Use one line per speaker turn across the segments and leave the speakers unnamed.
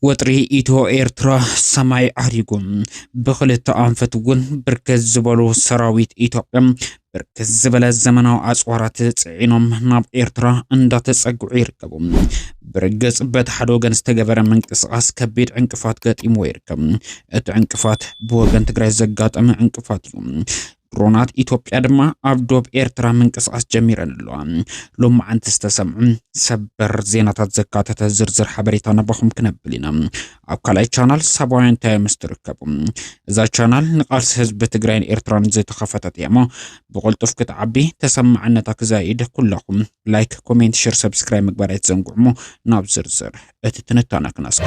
ወጥሪ ኢትዮ ኤርትራ ሰማይ ዓሪጉ ብክልተ ኣንፈት እውን ብርክት ዝበሉ ሰራዊት ኢትዮጵያ ብርክት ዝበለ ዘመናዊ ኣፅዋራት ፅዒኖም ናብ ኤርትራ እንዳተፀግዑ ይርከቡ። ብርግፅ በቲ ሓደ ወገን ዝተገበረ ምንቅስቓስ ከቢድ ዕንቅፋት ገጢምዎ ይርከብ። እቲ ዕንቅፋት ብወገን ትግራይ ዘጋጠመ ዕንቅፋት እዩ። ድሮናት ኢትዮጵያ ድማ ኣብ ዶብ ኤርትራ ምንቅስቓስ ጀሚረን ኣለዋ። ሎም መዓንቲ ዝተሰምዑ ሰበር ዜናታት ዘካተተ ዝርዝር ሓበሬታ ነባኹም ክነብል ኢና። ኣብ ካልኣይ ቻናል ሳባውያን እንታይ ምስ ትርከቡ እዛ ቻናል ንቃልሲ ህዝቢ ትግራይን ኤርትራን ዝተኸፈተት እያ እሞ ብቕልጡፍ ክትዓቢ ተሰማዕነታ ክዛይድ ኩላኹም ላይክ ኮሜንት ሽር ሰብስክራይብ ምግባር ኣይትዘንግዑ እሞ ናብ ዝርዝር እቲ ትንታነ ክነስከ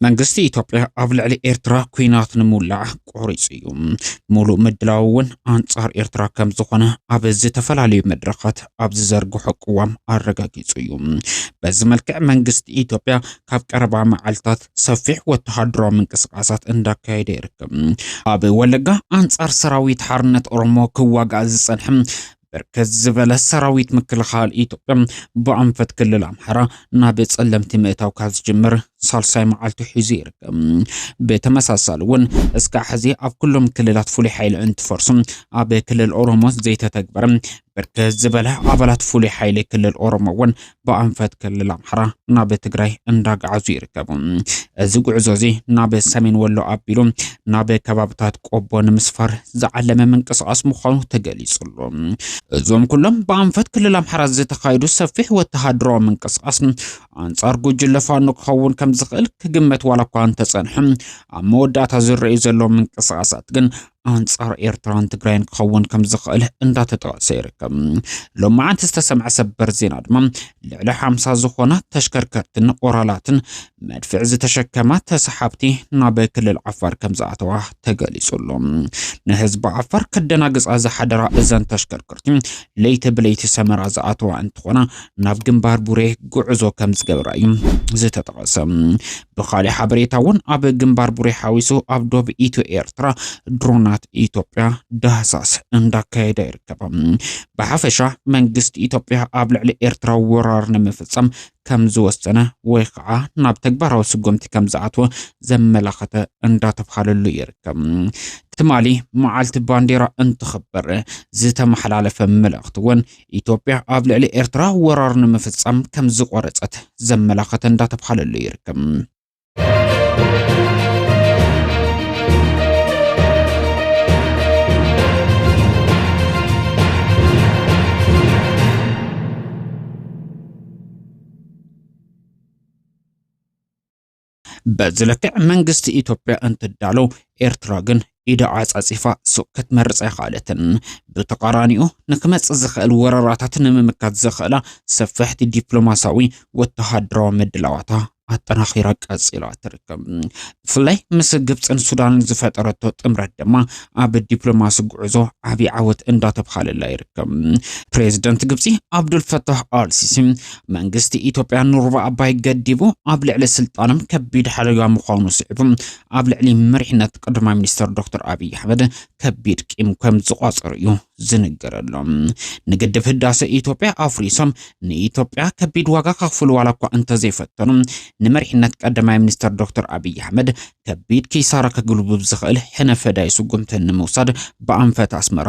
መንግስቲ ኢትዮጵያ ኣብ ልዕሊ ኤርትራ ኩናት ንምውላዕ ቆሪጹ እዩ። ሙሉእ ምድላው እውን ኣንጻር ኤርትራ ከም ዝኾነ ኣብ ዝተፈላለዩ መድረኻት ኣብ ዝዘርግሖ ቅዋም ኣረጋጊጹ እዩ። በዚ መልክዕ መንግስቲ ኢትዮጵያ ካብ ቀረባ መዓልታት ሰፊሕ ወተሃደራዊ ምንቅስቓሳት እንዳካየደ ይርከብ። ኣብ ወለጋ ኣንጻር ሰራዊት ሓርነት ኦሮሞ ክዋጋእ ዝጸንሐ ብርክት ዝበለ ሰራዊት ምክልኻል ኢትዮጵያ ብኣንፈት ክልል ኣምሓራ ናብ ጸለምቲ ምእታው ካብ ዝጅምር ሳልሳይ መዓልቱ ሒዙ ይርከብ። ብተመሳሳሊ እውን እስካዕ ሕዚ ኣብ ኩሎም ክልላት ፍሉይ ሓይሊ እንትፈርሱ ኣብ ክልል ኦሮሞ ዘይተተግበረ ብርክት ዝበለ ኣባላት ፍሉይ ሓይሊ ክልል ኦሮሞ እውን ብኣንፈት ክልል ኣምሓራ ናብ ትግራይ እንዳጋዓዙ ይርከቡ። እዚ ጉዕዞ እዚ ናብ ሰሜን ወሎ ኣቢሉ ናብ ከባብታት ቆቦ ንምስፋር ዝዓለመ ምንቅስቓስ ምዃኑ ተገሊጹ ኣሎ። እዞም ኩሎም ብኣንፈት ክልል ኣምሓራ ዝተኻየዱ ሰፊሕ ወተሃደራዊ ምንቅስቓስ ኣንጻር ጉጅለ ፋኖ ክኸውን ከም ዝኽእል ክግመት ዋላ እኳ እንተጸንሐ ኣብ መወዳእታ ዝረኣዩ ዘለዉ ምንቅስቓሳት ግን ኣንጻር ኤርትራን ትግራይን ክኸውን ከም ዝኽእል እንዳተጠቐሰ ይርከብ። ሎም መዓንቲ ዝተሰምዐ ሰበር ዜና ድማ ልዕሊ ሓምሳ ዝኾና ተሽከርከርትን ኦራላትን መድፍዕ ዝተሸከማ ተሰሓብቲ ናብ ክልል ዓፋር ከም ዝኣተዋ ተገሊጹ ኣሎ። ንህዝቢ ዓፋር ከደናግጻ ዝሓደራ እዘን ተሽከርከርቲ ለይቲ ብለይቲ ሰመራ ዝኣተዋ እንትኾና ናብ ግንባር ቡሬ ጉዕዞ ከም ዝገብራ እዩ ዝተጠቐሰ። ብኻሊእ ሓበሬታ እውን ኣብ ግንባር ቡሬ ሓዊሱ ኣብ ዶብ ኢትዮ ኤርትራ ድሮናት ኢትዮጵያ ዳህሳስ እንዳካየደ ይርከብ። ብሓፈሻ መንግስቲ ኢትዮጵያ ኣብ ልዕሊ ኤርትራ ወራር ንምፍጸም ከም ዝወሰነ ወይ ከዓ ናብ ተግባራዊ ስጉምቲ ከም ዝኣትወ ዘመላኸተ እንዳተብሃለሉ ይርከብ። ትማሊ መዓልቲ ባንዴራ እንትኽበር ዝተመሓላለፈ መልእኽቲ እውን ኢትዮጵያ ኣብ ልዕሊ ኤርትራ ወራር ንምፍጻም ከም ዝቖረጸት ዘመላኸተ እንዳተብሃለሉ ይርከብ። በዚ ልክዕ መንግስቲ ኢትዮጵያ እንትዳሎ ኤርትራ ግን ኢዳ ዓጻጺፋ ሱቕ ክትመርጽ ኣይኸኣለትን። ብተቓራኒኡ ንክመጽእ ዝኽእል ወረራታት ንምምካት ዘኽእላ ሰፈሕቲ ዲፕሎማስያዊ ወተሃደራዊ ምድላዋታ ኣጠናኺራ ቀጺላ ትርከብ። ብፍላይ ምስ ግብፅን ሱዳንን ዝፈጠረቶ ጥምረት ድማ ኣብ ዲፕሎማሲ ጉዕዞ ዓብዪ ዓወት እንዳተብሃለላ ይርከብ። ፕሬዚደንት ግብፂ ዓብዱልፈታህ ኣልሲሲ መንግስቲ ኢትዮጵያ ንሩባ ኣባይ ገዲቡ ኣብ ልዕሊ ስልጣኖም ከቢድ ሓደጋ ምዃኑ ስዒቡ ኣብ ልዕሊ መሪሕነት ቀዳማይ ሚኒስትር ዶክተር ኣብዪ ኣሕመድ ከቢድ ቂም ከም ዝቋፀሩ እዩ ዝንገረሎም። ንግድብ ህዳሰ ኢትዮጵያ ኣፍሪሶም ንኢትዮጵያ ከቢድ ዋጋ ከኽፍሉ ዋላ እኳ እንተዘይፈተኑ ንመሪሕነት ቀዳማይ ሚኒስትር ዶክተር ኣብዪ ኣሕመድ ከቢድ ኪሳራ ከግልቡብ ዝኽእል ሕነ ፈዳይ ስጉምቲ ንምውሳድ ብኣንፈት ኣስመራ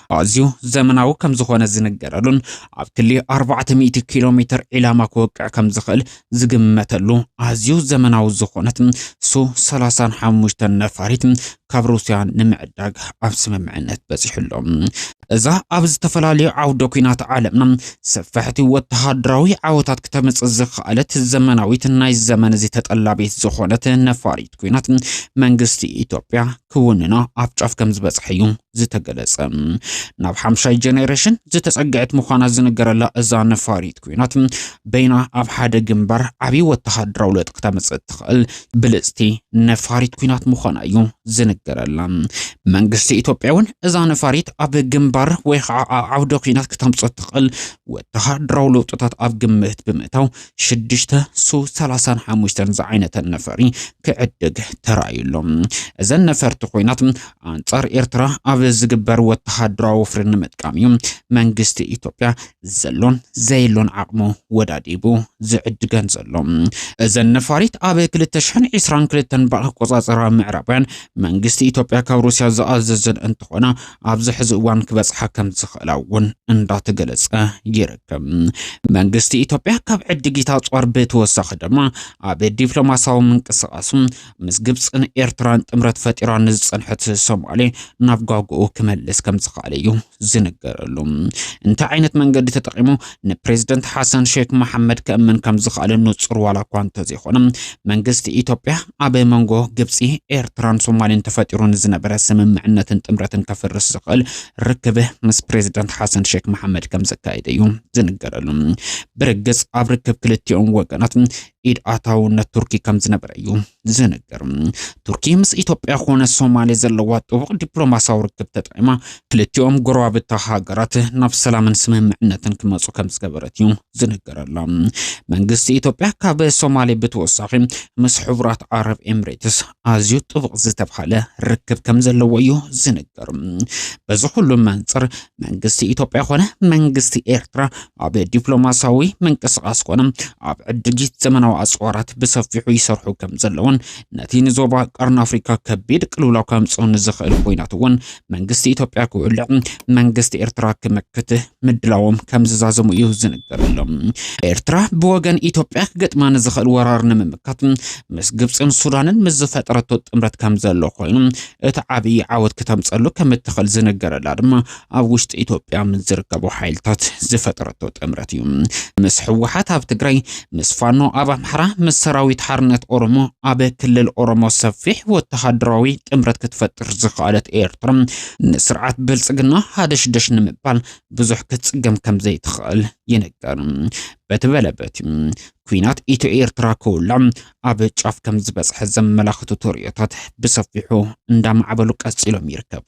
ኣዝዩ ዘመናዊ ከም ዝኾነ ዝንገረሉን ኣብ ክሊ ኣርባዕተ ሚእቲ ኪሎ ሜትር ዒላማ ክወቅዕ ከም ዝኽእል ዝግመተሉ ኣዝዩ ዘመናዊ ዝኾነት ሱ ሰላሳን ሓሙሽተን ነፋሪት ካብ ሩስያ ንምዕዳግ ኣብ ስምምዕነት በፂሑ ኣሎ። እዛ ኣብ ዝተፈላለዩ ዓውደ ኩናት ዓለምና ሰፋሕቲ ወተሃደራዊ ዓወታት ክተምፅእ ዝኸኣለት ዘመናዊት ናይ ዘመን እዚ ተጠላቢት ዝኾነት ነፋሪት ኩናት መንግስቲ ኢትዮጵያ ክውንና ኣብ ጫፍ ከም ዝበጽሐ እዩ ዝተገለጸ። ናብ ሓምሻይ ጀኔሬሽን ዝተጸግዐት ምዃና ዝንገረላ እዛ ነፋሪት ኩናት በይና ኣብ ሓደ ግንባር ዓብዪ ወተሃደራዊ ለውጢ ክተምጽእ እትኽእል ብልጽቲ ነፋሪት ኩናት ምዃና እዩ ዝንገረላ። መንግስቲ ኢትዮጵያ እውን እዛ ነፋሪት ኣብ ግንባር ወይ ከዓ ኣብ ዓውደ ኩናት ክተምጽእ እትኽእል ወተሃደራዊ ለውጥታት ኣብ ግምት ብምእታው ሽዱሽተ ሱ ሰላሳን ሓሙሽተን ዝዓይነተን ነፈሪ ክዕድግ ተራእዩ ኣሎ። እዘን ነፈርቲ ኮይናት ኣንጻር ኤርትራ ኣብ ዝግበር ወተሃደራዊ ወፍሪ ንምጥቃም እዩ መንግስቲ ኢትዮጵያ ዘሎን ዘየሎን ዓቕሙ ወዳዲቡ ዝዕድገን ዘሎ። እዘን ነፋሪት ኣብ 2022 ብኣቆጻጽራ ምዕራባውያን መንግስቲ ኢትዮጵያ ካብ ሩስያ ዝኣዘዘን እንትኾና ኣብዚ ሕዚ እዋን ክበጽሓ ከምዝኽእላ እውን እንዳተገለጸ ይርከብ። መንግስቲ ኢትዮጵያ ካብ ዕድጊት ኣጽዋር ብተወሳኺ ድማ ኣብ ዲፕሎማሲያዊ ምንቅስቓሱ ምስ ግብፅን ኤርትራን ጥምረት ፈጢራ ንዝጸንሐት ሶማሌ ናብ ጓጉኡ ክመልስ ከምዝኽኣለ እዩ ዝንገረሉ። እንታይ ዓይነት መንገዲ ተጠቂሙ ንፕሬዝደንት ሓሰን ሼክ መሓመድ ከእምን ከም ዝኽኣለ ንጹር ዋላ እኳ እንተዘይኾነ መንግስቲ ኢትዮጵያ ኣብ መንጎ ግብፂ፣ ኤርትራን ሶማሌን ተፈጢሩ ንዝነበረ ስምምዕነትን ጥምረትን ከፍርስ ዝኽእል ርክብ ምስ ፕሬዝደንት ሓሰን ሼክ መሓመድ ከም ዘካየደ እዩ ዝንገረሉ። ብርግፅ ኣብ ርክብ ክልቲኦም ወገናት ኢድ ኣታውነት ቱርኪ ከም ዝነበረ እዩ ዝንገር። ቱርኪ ምስ ኢትዮጵያ ኮነ ሶማሌ ዘለዋ ጥቡቕ ዲፕሎማሲያዊ ርክብ ተጠቂማ ክልቲኦም ጎረባብታ ሃገራት ናብ ሰላምን ስምምዕነትን ክመፁ ከም ዝገበረት እዩ ዝንገረላ። መንግስቲ ኢትዮጵያ ካብ ሶማሌ ብተወሳኺ ምስ ሕቡራት ዓረብ ኤምሬትስ ኣዝዩ ጥቡቕ ዝተብሃለ ርክብ ከም ዘለዎ እዩ ዝንገር። በዚ ኩሉ መንፅር መንግስቲ ኢትዮጵያ ኮነ መንግስቲ ኤርትራ ኣብ ዲፕሎማሲያዊ ምንቅስቓስ ኮነ ኣብ ዕድጊት ዘመናዊ ኣጽዋራት ብሰፊሑ ይሰርሑ ከም ዘለውን ነቲ ንዞባ ቀርኒ ኣፍሪካ ከቢድ ቅልውላው ከምጽኦ ንዝኽእል ኮይናት እውን መንግስቲ ኢትዮጵያ ክውልዕ መንግስቲ ኤርትራ ክምክት ምድላዎም ከም ዝዛዘሙ እዩ ዝንገረሎም። ኤርትራ ብወገን ኢትዮጵያ ክገጥማ ንዝኽእል ወራር ንምምካት ምስ ግብፅን ሱዳንን ምስ ዝፈጠረቶ ጥምረት ከም ዘሎ ኮይኑ እቲ ዓብዪ ዓወት ክተምፀሉ ከም እትኽእል ዝንገረላ ድማ ኣብ ውሽጢ ኢትዮጵያ ምስ ዝርከቡ ሓይልታት ዝፈጠረቶ ጥምረት እዩ። ምስ ህወሓት ኣብ ትግራይ፣ ምስ ፋኖ ኣብ ኣምሓራ፣ ምስ ሰራዊት ሓርነት ኦሮሞ ኣብ ክልል ኦሮሞ ሰፊሕ ወተሃደራዊ ጥምረት ክትፈጥር ዝኸኣለት ኤርትራ ንስርዓት ብልጽግና ሃደሽደሽ ንምባል ብዙሕ ክትጽገም ከም ዘይትኽእል ይንገር። በቲ በለ በቲ ኲናት ኢትዮ ኤርትራ ክውላዕ ኣብ ጫፍ ከም ዝበጽሐ ዘመላኽቱ ተርእዮታት ብሰፊሑ እንዳማዕበሉ ቀጺሎም ይርከቡ።